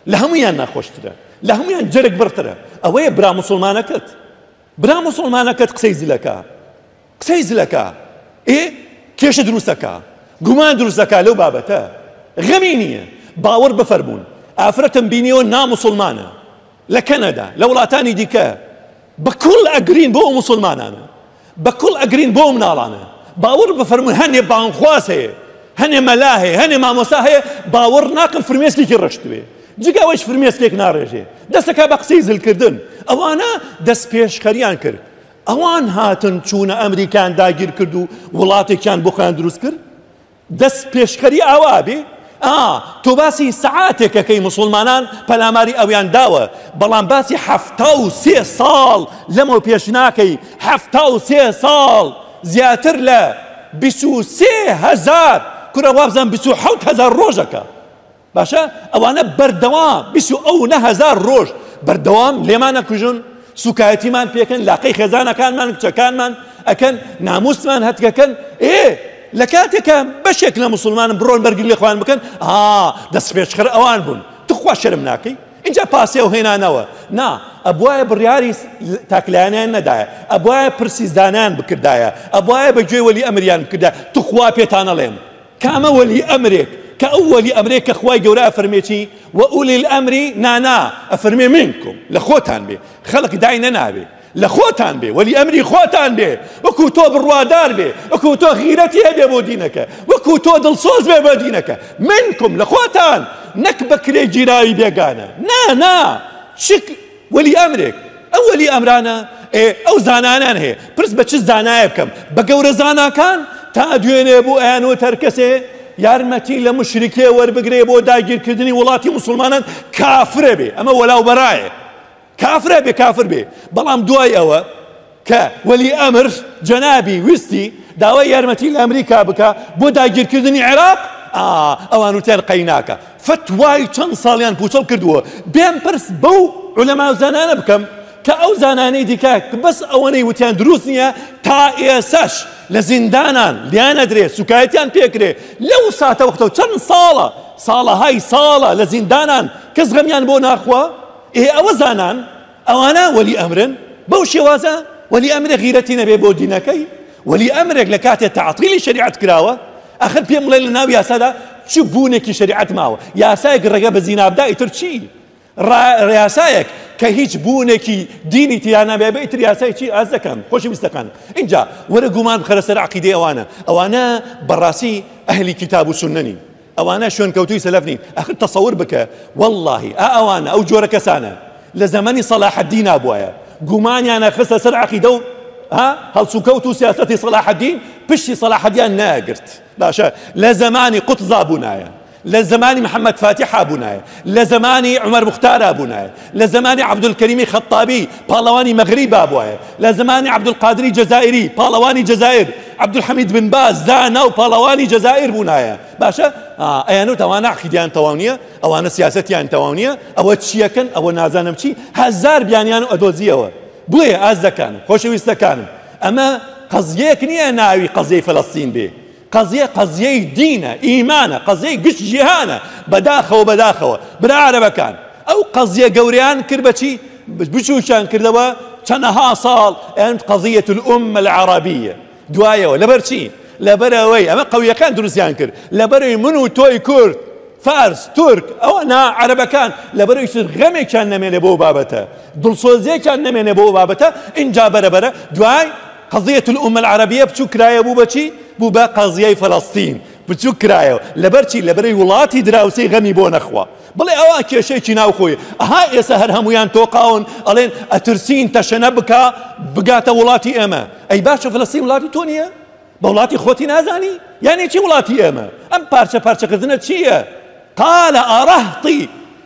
لە هەمویان ناخۆشترە لە هەمویان جەرگ بڕترە ئەوەیە برا مسلمانەکەت برا مسلمانەکەت قسەی زلەکە قسەی زلەکە ئێ کێشە دروستەکە گومان دروستەکە لەو بابەتە غەمی نییە باوەڕ بفەرمونون ئافرەتم بینیەوە نامسلمانە لە کەنەدا لە وڵاتانی دیکە بە کوڵ ئەگرین بۆ ئەو مسلمانانە بە کوڵ ئەگرین بۆ ئەو مناڵانە باوەڕ بفەرموون هەنێ بانگخواز هەیە هەنێ مەلا هەیە هەنێ مامۆستا هەیە باوەڕ ناکەم فرمێسکێکی ڕشتوێ جگە ئەوەیش فرمێسکێک ناڕێژێ دەستەکە بە قسەی زلکردن ئەوانە دەست پێشخەریان کرد ئەوان هاتن چوونە ئەمریکان داگیر کرد و وڵاتێکیان بۆ خۆیان دروست کرد دەست پێشخەری ئاوا ئەبێ؟ ئا تۆ باسی سەعاتێک ئەکەی موسوڵمانان پەلاماری ئەویان داوە بەڵام باسی حەفتا و سێ ساڵ لەمەو پێش ناکەی حەفتا و سێ ساڵ زیاتر لە بیست و سێ هەزار کورە وابزانم بیست و حەوت هەزار ڕۆژەکە باشە ئەوانە بەردەوام بیست و ئەو نە هەزار ڕۆژ بەردەوام لێمان نەکوژن سوکایەتیمان پێکەن لاقەی خێزانەکانمان کچەکانمان ئەکەن ناموسمان هەتکەکەن ئێ لە کاتێکە بەشێک لە مسلمانم بڕۆن بەرگری لە خۆیان بکەن ئا دەست پێشخەر ئەوان بوون تخوا شەرم ناکەی اینجا پاسێ و هێنانەوە نا ئەبواە بڕیاری تاکلایانیان نەدایە ئەبواە پرسیزدانیان بکردایە ئەبواە بە گوێ وەلی ئەمریان بکردا تخوا پێتانەڵێن کە ئەمە وەلی ئەمرێک کە ئەو وەلی ئەمرێک کە خوای گەورە ئەفەرمێ چی وەئولی الامری نانا ئەفەرمێ منکم لە خۆتان بێ خەڵک دای نەناوێ لە خۆتان بێ وەلی ئەمری خۆتان بێ وەکو تۆ بڕوادار بێ وەکو تۆ غیرەتی هەبێ بۆ دینەکە وەکو تۆ دڵسۆز بێ بۆ دینەکە منکم لە خۆتان نەک بەکرێ گیراوی بێگانە نا نا چ وەلی ئەمرێک ئەو وەلی ئەمرانە ئێ ئەو زانانان هەیە پرس بە چ زانایە بکەم بە گەورە زاناکان تا دوێنێ بۆ ئەیان وتەر کەسێ یارمەتی لە مشرکێ وەربگرێ بۆ داگیرکردنی وڵاتی مسلمانان کافرە بێ ئەمە وەلاو بەرایە کافرە بێ کافر بێ بەڵام دوای ئەوە کە وەلی ئەمر جەنابی ویستی داوای یارمەتی لە ئەمریکا بکا بۆ داگیرکردنی عێراق ئا ئەوان وتیان قەیناکە فتوای چەند ساڵیان پوچەڵ کردووە بێم پرس بەو علەما و زانانە بکەم کە ئەو زانانەی دیکە بەس ئەوەنەی وتیان دروست نییە تا ئێسەش لە زیندانان لیان ئەدرێ سوکایەتیان پێکرێ لەو ساتە وەختەوە چەند ساڵە ساڵەهای ساڵە لە زیندانان کەس غەمیان بۆ ناخوا ئێ ئەوە زانان ئەوانە وەلی ئەمرن، بەو شێوازە وەلی ئەمرێک غیرەتی نەبێ بۆ دینەکەی، وەلی ئەمرێک لە کاتێ تەعتیلی شەریعەت کراوە، ئاخر پێم بڵێ لە ناو یاسادا چ بوونێکی شەریعەت ماوە؟ یاسایەک ڕێگە بە زینا بدا ئیتر چی؟ ڕا یاسایەک کە هیچ بوونێکی دینی تیا نەبێ بە ئیتر یاسای چی؟ ئاز دەکەن خۆشی ویستەکان. ئینجا وەرە گومان بخەرە سەر عەقیدەی ئەوانە، ئەوانە بەڕاستی ئەهلی کیتاب و سوننەنین. ئەوانە شوێنکەوتووی سەلەف نین ئەخر تەسەور بکە وەڵڵاهی ئا ئەوانە ئەو جۆرە کەسانە لە زەمەنی سەلاحەددینا بوایە گومانیانە خستە سەر عەقیدە و ها هەڵسوکەوت و سیاسەتی سەلاحەددین پشتی سەلاحەدیان نایگرت باشە لە زەمانی قوتزا بوونایە لە زەمانی محەممەد فاتیحا بوونایە لە زەمانی عومەر مختارا بوونایە لە زەمانی عەبدولکەریمی خەتتابی، پاڵەوانی مەغریب بابوایە، لە زەمانی عەبدولقادری جەزائیری، پاڵەوانی جەزائیر، عەبدولحەمید بن باز، زانا و پاڵەوانی جەزائیر بوونایە. باشە ئەیان وت ئەوانە عەقیدەیان تەواو نییە، ئەوانە سیاسەتیان تەواو نییە، ئەوە چییەکەن، ئەوە نازانم چی، هەزار بیانیان ئەدۆزییەوە. بۆیە ئازیزەکانم، خۆشەویستەکانم، ئەمە قەزیەیەک نییە ناوی قەزیەی فەلەستین بێ، قەزیە قەزیەی دینە ئیمانە قەزیەی گشت جیهانە بەداخەوە بەداخەوە برا عەرەبەکان ئەو قەزیە گەوریان کرد بەچی بچووکیان کردەوە چەنەها ساڵ ئەند قەزیەت الأمە العربیە دوایەوە لەبەرچی لەبەرەوەی ئەمە قویەکان دروستیان کرد لەبەرەوەی من و تۆی کورد فارس تورک ئەوە نا عەرەبەکان لەبەرەوەی تر غەمێکیان نەمێنێ بۆ بابەتە دڵسۆزیەکیان نەمێنێ بۆ بابەتە ئینجا بەرەبەرە دوای قەزیەت الامە العربیە بچوک کرایە بوو بە چی؟ بوو بە قەزیەی فەلەستین بچوک کرایەوە لەبەر چی؟ لەبەرەی وڵاتی دراوسێی غەمی بۆ نەخوا بڵێ ئەوە کێشەیەکی ناوخۆی ئەها ئێسە هەر هەمویان تۆقاون ئەڵێن ئەترسین تەشەنە بکا بگاتە وڵاتی ئێمە ئەی باشە فەلەستین وڵاتی تۆ نییە؟ بە وڵاتی خۆتی نازانی؟ یانی چی وڵاتی ئێمە؟ ئەم پارچە پارچەکردنە چییە؟ قالە ئارەهتی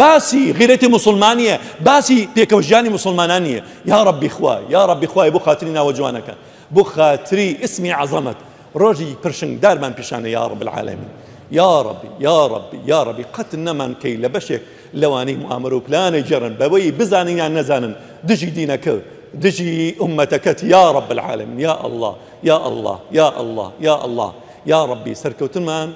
باسی غیرەتی موسڵمان نیە باسی پێکەوە ژیانی موسڵمانان نیە یاڕەبی خوا یاڕەبی خوایە بۆ خاتری ناوە جوانەکان بۆ خاتری اسمی عەزەمەت ڕۆژی پرشنگ دارمان پیشانە یاڕەب العالمین یاڕەبی یاڕەبی یاڕەبی قەت نەمان کەی لە بەشێک لەوانەی موامەرە و پلانە گێڕن بەوەی بزانن یان نەزانن دژی دینەکە دژی ئومەتەکەت یا رب العالمین یا الله یا الله یا الله یا الله یا ربی سەرکەوتنمان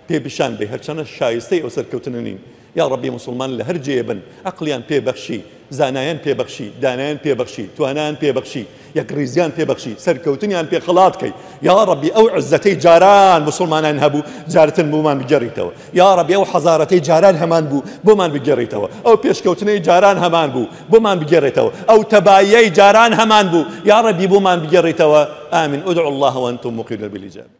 پێ پیشان بەی هەرچەنە شایستەی ئەو سەرکەوتنە نین یاڕەبی موسڵمان لە هەر جێێ بن عەقڵیان پێ بەخشی زانایان پێ بەخشی دانایان پێ بەخشی توانایان پێ بەخشی یەکڕیزیان پێ بەخشی سەرکەوتنیان پێ خەڵات کەی یاڕەبی ئەو عزەتەی جاران موسڵمانان هەبوو جارتن بۆمان بگەڕیتەوە یاڕەبی ئەو حەزارەتەی جاران هەمان بوو بۆمان بگەڕیتەوە ئەو پێشکەوتنەی جاران هەمان بوو بۆمان بگەڕێتەوە ئەو تەباییەی جاران هەمان بوو یاڕەبی بۆمان بگەڕیتەوە ئامین ادعوا الله وانتم موقنون بالاجابە